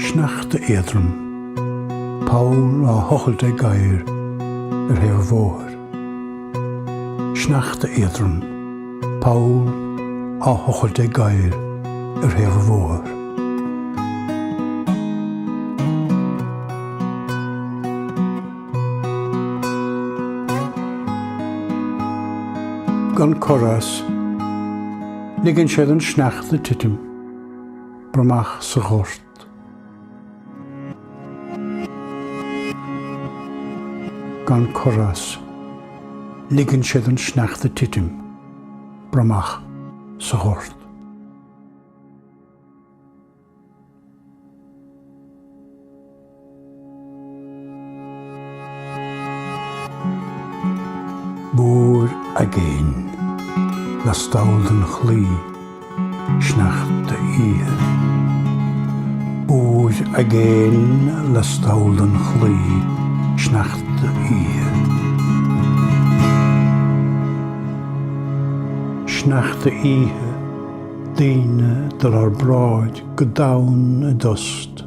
Sneachta éadrom. Poll á thochailt ag gadhar ar thaobh an bhóthair. Sneachta éadrom. Poll á thochailt ag gadhar ar thaobh an bhóthair. Gan cor as. Ligeann sé don sneachta titim. Bromach sa ghort. Gan cor as. Ligeann sé don sneachta titim. Bromach sa ghort. Búir aigéin lastall den chlaí, sneachta oíche. Búir aigéin lastall den chlaí, sneachta oíche. Sneachta oíche, daoine ag dul thar bráid go domhain i dtost.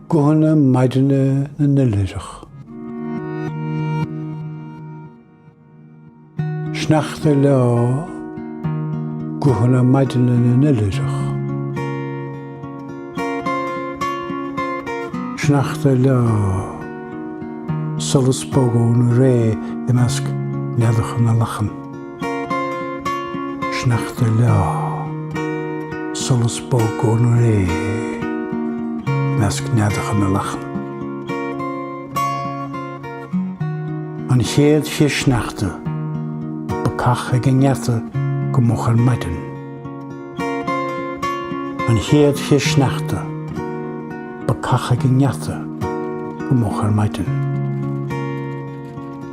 Guthanna maidine na n-oilithreach. Sneachta ag leá, guthanna maidine na n-oilithreach. Sneachta ag leá, solas bog ón ré i measc neadacha na lachan. Sneachta ag leá, solas bog ón ré i measc neadacha na lachan. An chéad chith sneachta, bacach ag an ngeata go moch ar maidin. An chéad chith sneachta, bacach ag an ngeata go moch ar maidin.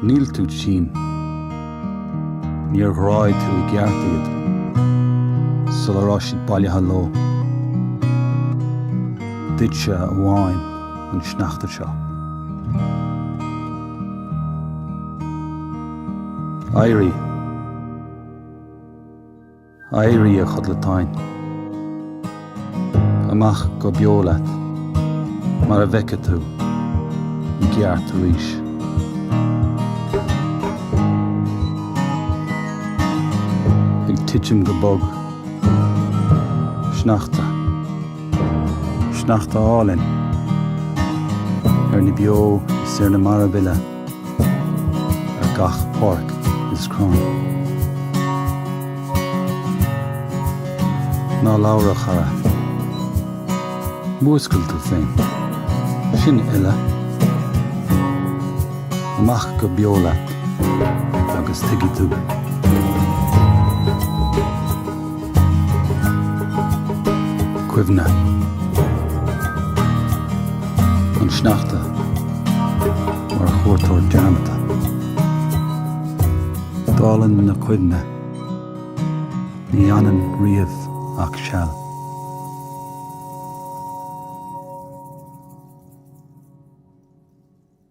Níl tú tinn. Níor ghráigh tú i gceart iad sula raibh siad bailithe leo. Duitse amháin an sneachta seo. Éirigh. Éirigh, a chodlatáin. Amach go beo leat, mar a bhfeicfidh tú i gceart arís. Ag titim go bog. Sneachta. Sneachta álainn. Ar na beo is ar na mairbh uile. ar gach páirc is crann. Ná labhair a chara. Múscail tú féin. Sin uile. Amach go beo leat agus tuigfidh tú. cuimhne. An sneachta mar chuairteoir dearmadta. Dálann na cuimhne ní fhanann riamh ach seal.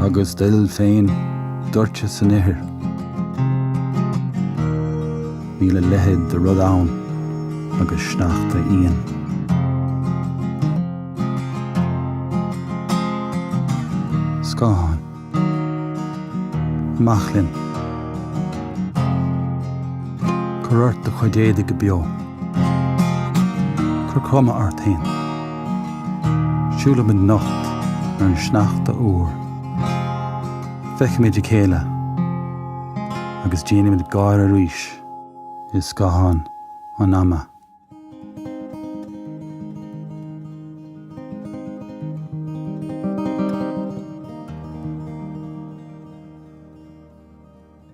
Agus d'fhuil féin, doirte san ithir. Níl a leithéid de rud ann agus sneachta íon. Scáthán. Amach linn. Cuir ort do chuid éadaigh go beo. Cuir cuma ort féin. Siúlaimid nocht ar an sneachta úr. Feicimid a chéile agus déanaimid gáire arís i scáthán an ama.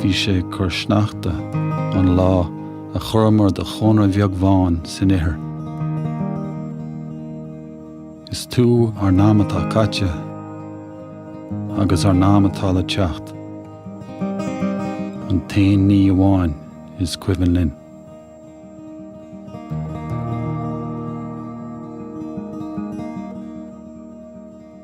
Bhí sé ag cur sneachta an lá a chuireamar do chónra bheag bhán san ithir. Is tú ár n-am atá caite agus ár n-am atá le teacht an t-aon ní amháin is cuimhin linn.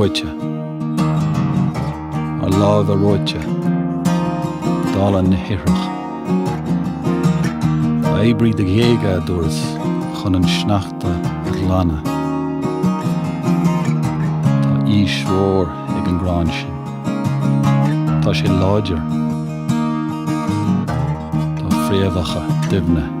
reoite, ár lámha reoite, dála na hithreach. Oibrigh do ghéaga a dúras chun an sneachta a ghlanadh. Tá aois mhór ag an gcrann sin. Tá sé láidir. Tá fréamhacha doimhne.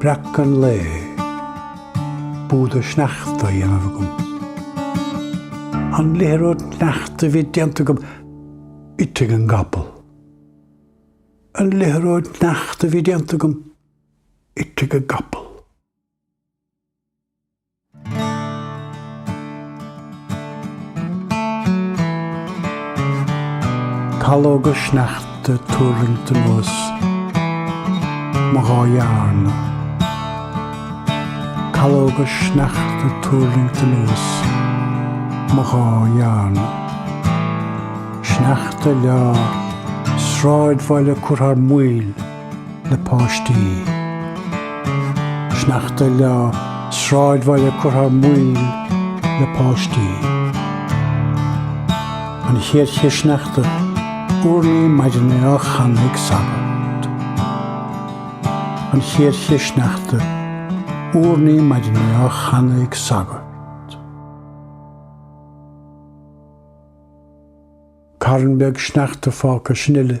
Breac an lae. Búda sneachta á dhéanamh agam. An liathróid sneachta a bhí déanta agam ite ag an gcapall. An liathróid sneachta a bhí déanta agam ite ag an gcapall. Calóga sneachta ag tuirlingt anuas mo dhá dhearna. Calóga sneachta ag tuirlingt anuas mo dhá dhearna. Sneachta ag leá, sráidbhaile ag cur thar maoil. le páistí. Sneachta ag leá, sráidbhaile ag cur thar maoil le páistí. An chéad chith sneachta, urnaí maidine á chanadh ag sagart. An chéad chith sneachta, urnaí maidine á chanadh ag sagart. Carn beag sneachta fágtha sin uile.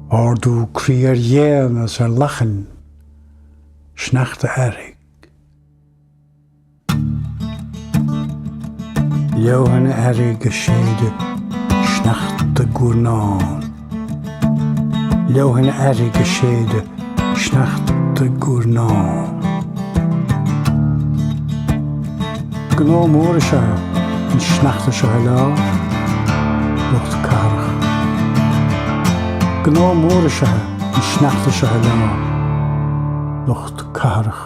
Ardú croí ar ghéanna is ar lachain, sneachta earraigh. Leoithne earraigh ag séideadh, sneachta ag guairneán. Leoithne earraigh ag séideadh, sneachta ag guairneán. Gnó mór is ea an sneachta seo i lár lucht cathrach. Gnó mór is ea an sneachta seo i lár lucht cathrach.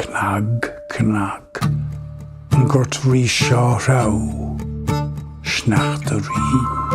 Cnag, cnag, an gort ríse á threabhadh, sneachta ag righneáil.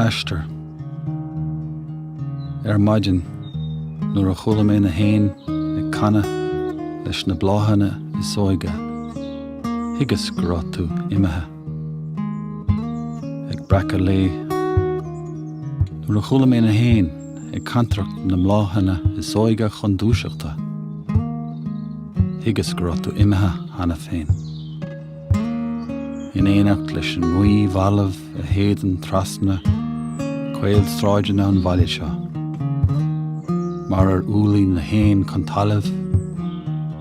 Aistear. Ar maidin, nuair a chuala mé na héin ag canadh leis na bláthanna is óige, Thuigeas go raibh tú imithe. Ag breacadh lae, nuair a chuala mé na héin ag cantaireacht na mbláthanna is óige chun dúiseachta, thuigeas go raibh tú imithe cheana féin. In éineacht leis an ngaoth bhalbh a shéideann trasna caolsráideanna an bhaile seo, mar ar thuirling na héin chun talaimh,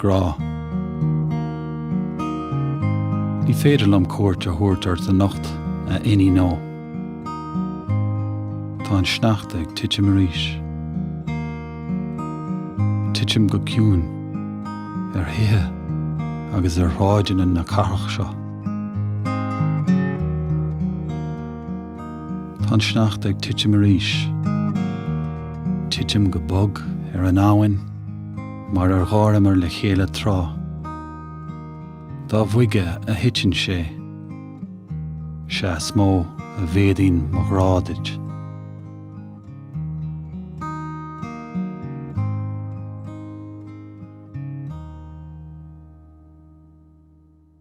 grá. Ní féidir liom cuairt a thabhairt ort anocht, a iníon ó. Tá an sneachta ag titim arís. Titim go ciúin ar thithe agus ar shráideanna na cathrach seo. Tá an sneachta ag titim arís. Titim go bog ar an abhainn mar ar gháireamar le chéile tráth. Dá bhoige a thiteann sé, sea is mó a mhéadaíonn mo ghrá duit.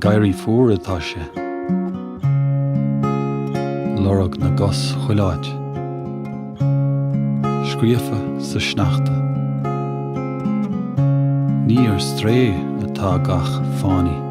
Ag éirí fuar atá sé. Lorg na gcos chuile áit. Scríofa sa sneachta. Ní ar strae atá gach fánaí.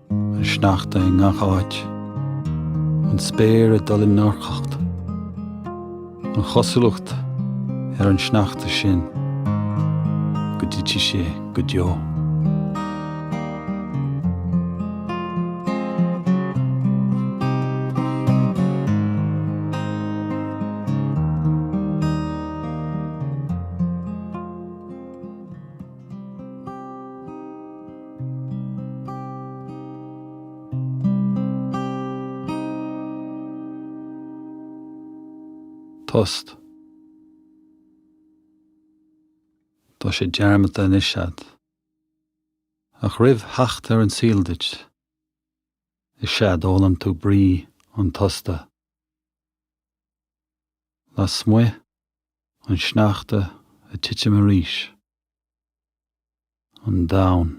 An sneachta i ngach áit. An spéir ag dul i ndorchacht. An chosúlacht ar an sneachta sin go dtitfidh sé go deo. Tost. Tá sé dearmadta anois agat. Ach roimh theacht ar an saol duit, is ea a d'fhoghlaim tú brí an tosta. Lasmuigh An sneachta ag titim arís. An domhan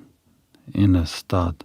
ina stad.